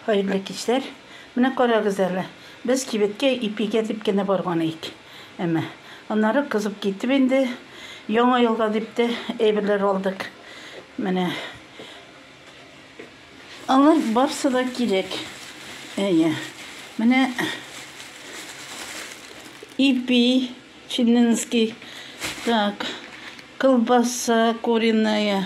Хәерле кичләр! Менә карагыз әле, без кибеткә ипигә дип кенә барган иек. Әмма, аннары кызып китеп инде, яңа елга дип тә әйберләр алдык. Менә. Алар барсы да кирәк. Әйе. Менә ипи, чиннинский, так, колбаса куриная,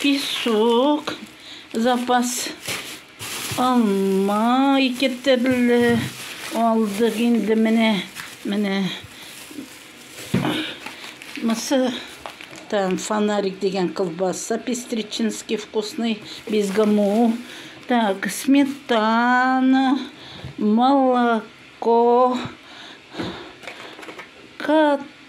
Песок, запас алма ике төрле алдык инде менә, менә мысы там фонарик дигән колбаса пестричинский вкусный без гаму так сметана молоко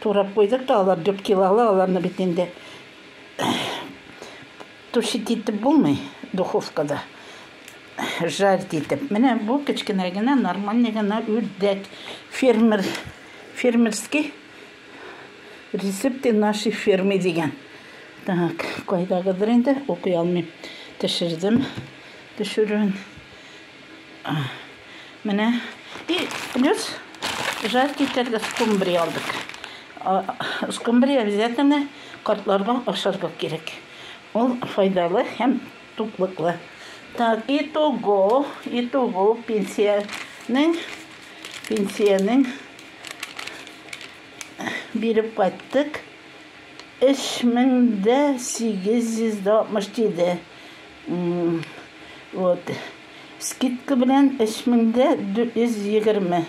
Турап куйдык та, алар дүрт килолы, аларны бит инде тушить итеп булмый духовкада, жарить итеп. Менә бу кечкенә генә, нормальный гына үрдәк, фермер, фермерский рецепты нашей фермы дигән. Так, кайдагыдыр инде, укый алмыйм. Төшердем, төшерүен. Менә и плюс жаркий тәргә скумбрия алдык. Скумбрия обязательно картларга ашарга кирәк. Ул файдалы һәм туклыклы. Так, и того, и того пенсиянең пенсиянең биреп кайттык. 3867 Вот. Скидка белән 3420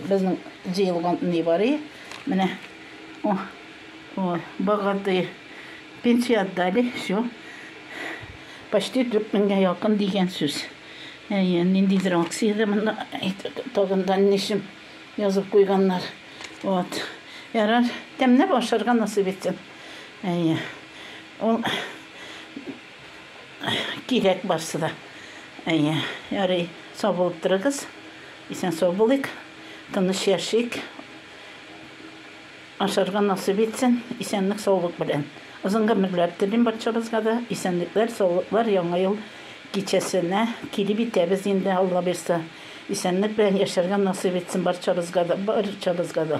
безнең җыелган нибары. Менә. О. О, богатые. Пенсия отдали, все. Почти 4000 якын дигән сүз. Әйе, ниндидер акциядә монда тагында нишем язып куйганнар. Вот. Ярар, тәмләп ашарга насыйп итсен. Әйе. Ул Кирәк барсы да. Әйе, ярый, сау булып торыгыз. Исән-сау булыйк, тыныч яшик. Ашарга насыйп итсен, исәнлек-саулык белән. Озын гомерләр телим барчабызга да. Исәнлекләр, саулыклар Яңа ел кичәсенә килеп итәбез инде, Аллабирса. Исәнлек белән яшәргә насыйп итсен барчабызга да, барчабызга да.